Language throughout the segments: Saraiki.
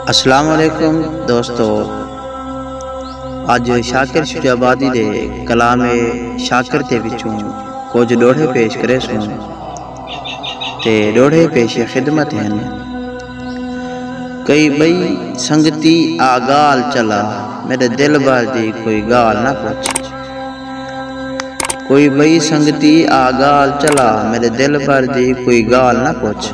السلام علیکم دوستو اج شاکر شجابادی دے کلام شاکر تے وچوں کچھ ڈوڑھے پیش کرے سوں تے ڈوڑھے پیش خدمت ہیں کئی بئی سنگتی آگال چلا میرے دل بھر دی کوئی گال نہ پوچھ کوئی بئی سنگتی آگال چلا میرے دل بھر دی کوئی گال نہ پوچھ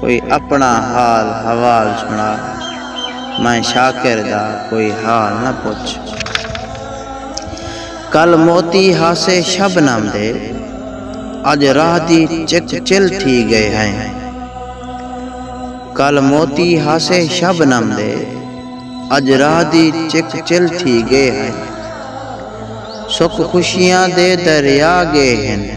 کوئی اپݨا حال حوال سݨا میں شاکر دا کوئی حال نہ پچھ کل موتی ہاسے شبنم دے اج راہ دی چک چل تھی گئے ہیں کل موتی ہاسے شبنم دے اج راہ دی چک چل تھی گئے ہیں سکھ خوشیاں دے دریا گئے ہیں